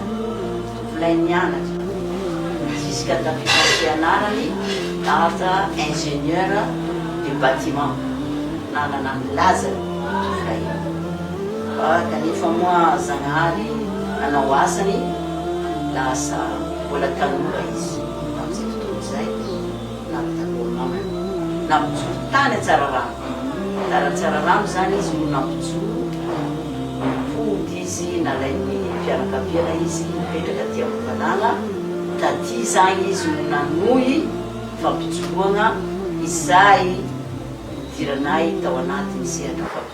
Tovolahy nianatra jusqu'à tafiatam-pianarany dada ingénieur du bâtiment nanana ny lazany io tovolahy io fa kanefa moa Zagnahary nanao asany lasa mbola tanora izy tamin'izay fotoana izay. Na amin'ny Takornana io. Nampijoro tany Antsararano. Tany Antsararano izany izy no nampijoro. Nody izy, nalain'ny fianakaviana izy, nipetraka aty Ambohibanana. Taty izany izy no nanohy fampijoroana izay nidiranay tao anatin'ny sehatra fampijoroana.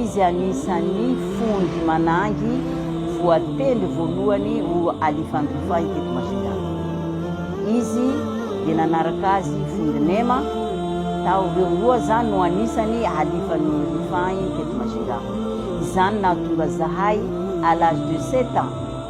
Izy anisan'ny fonjy manangy voatendry voalohany ho Alifandrify teto Masindahy. Izy dia nanaraka azy Fonjy Nema, tao ireo roa zany no anisany Alifandrify teto Masindahy. Izany nahatonga zahay à l'âge de sept ans,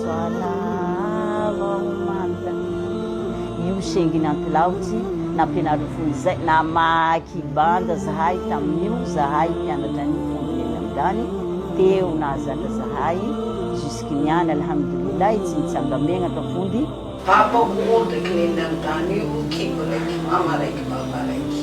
Salama anta io sengin antilaotsy nampianariny fony izay namaky banda zahay taminio zahay mpianatra anio fony teny amdany teo nahazatra zahay jusque niany alhamdoulillahi tsy nitsanga megnaka fony Papa o montre k'nen'ny any tany io kibo raiky mama raiky baba raiky.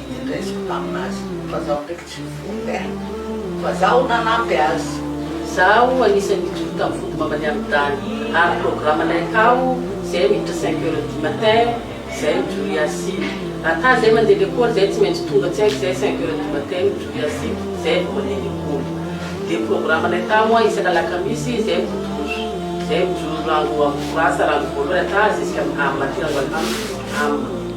Nendreziko taminazy fa zaho ndraiky tsy nivory eh! Fa zaho nanampy azy. Zaho anisany nijoro tam fody mama ny am dany ary programa nay tao zay miditra cinq heures du matin zay mijoro hiasiko. Ata zay mande lekôly zay tsy maintsy tonga tsy haiko zay cinq heures du matin mijoro hiasiko zay vo mande lekôly. De programa nay tamo an isaka alakamisy zay midodoso zay mijoro rango am fo rasa rango voalohany ata ziskam am aty rango alhams am.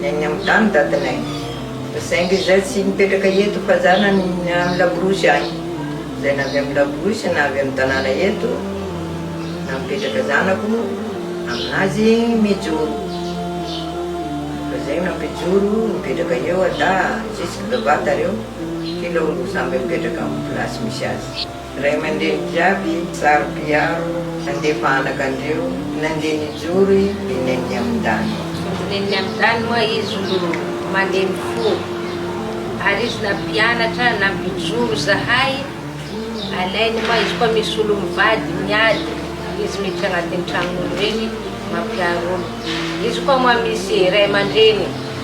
Ny any amin'ny tany datinay. Saingy izay tsy mipetraka eto fa zanany ny any Laborosy any. Izay na avy amin'ny Laborosy na avy amin'ny tanàna eto na mipetraka zanako, aminazy mijoro. Fa zay nampijoro mipetraka eo Ada, Jesy, Bevata reo, kila olona samby mipetraka amin'ny place misy azy. Ray aman-dreny jiaby zary mpiaro nandefa anaka ndreo nandeha nijoro i nen'ny amindany. Ny nen'ny amindany moa izy no maneno fo ary izy nampianatra nampijoro zahay alainy moa izy koa misolo mivady miady izy miditra agnatin'ny tragnon'olo regny mampiaro olo izy koa moa misy ray aman-dreny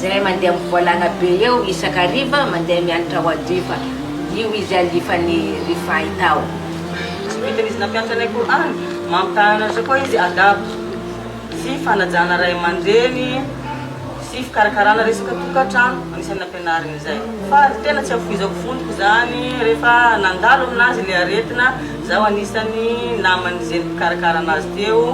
Zay mandeha mivoalana be eo isaka hariva mandeha miantra ao adifa io izy alifany ry fay tao. Tsy vitan izy nampianatra anay Qur'an, mampitaha anatra koa izy adab sy fanajana ray aman-dreny sy fikarakarana resaka tokantrano, anisany nampianariny izay. Fa ny tena tsy afoizako fondoko izany rehefa nandalo aminazy ilay aretina, zaho anisany naman'ny zeny mpikarakara anazy teo,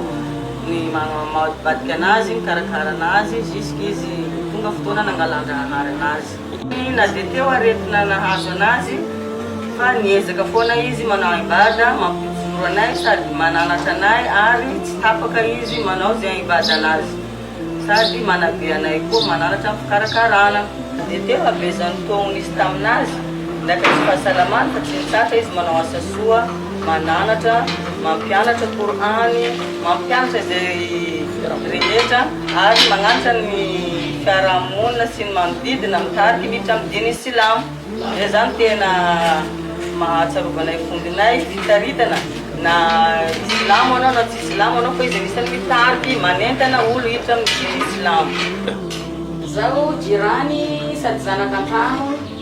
ny mamadibadika anazy, mikarakara anazy jusqu'izy tonga fotoana nangalan-drahahary anazy. Tsy na dia teo aretina nahazo anazy fa niezaka foana izy manao aim-bada mampijoro anay sady mananatra anay ary tsy tapaka izy manao izay aim-bada anazy sady manabe anay koa mananatra ny fikarakarana. Dia teo habeazan'ny taogny nisy taminazy, ndratra tsy fahasalamany fa tsy nitratra izy manao asa soa. Mananatra, mampianatra Kor'any, mampianatra izay rehetra ary magnanatra ny fiaraha-monina sy ny manodidina mitarika miditra amin'ny diny silamo. Izay izany tena mahatsiarovana ny vondronay fitaritana na silamo anao na tsy silamo anao fa izy anisany mitariky manentana olo hiditra amin'ny diny silamo. Izaho jirany sady zanaka an-trano.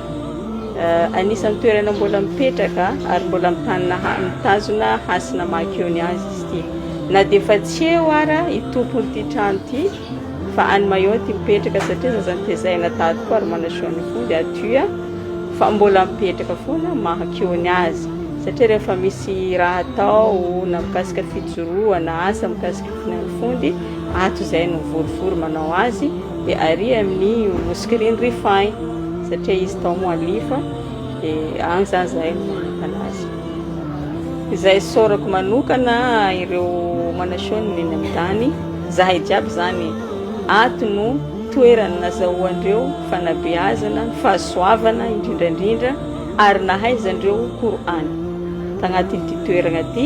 Anisan'ny toerana mbola mipetraka ary mbola mitanina mitazona hasina maha-keo ny azy izy ity. Na dia efa tsy eo ara i tompon'ity trano ity fa any Mayotte mipetraka satria zaza notezahina tato koa ary manaseo ny fo dia aty fa mbola mipetraka foana maha-keo ny azy satria rehefa misy raha atao na mikasika fijoroana asa mikasika Na ny fondy ato izay no vorivory manao azy dia ary amin'ny mouscrine refin satria izy tao moa lifa dia any izany izahay no manokana azy. Izay isaorako manokana ireo manaseho ny mena midany, izahay jiaby izany ato no toerana nazahoandreo fanabeazana, fahasoavana indrindrandrindra ary nahaizandreo Qur'an tagnatin'ity toerana ity.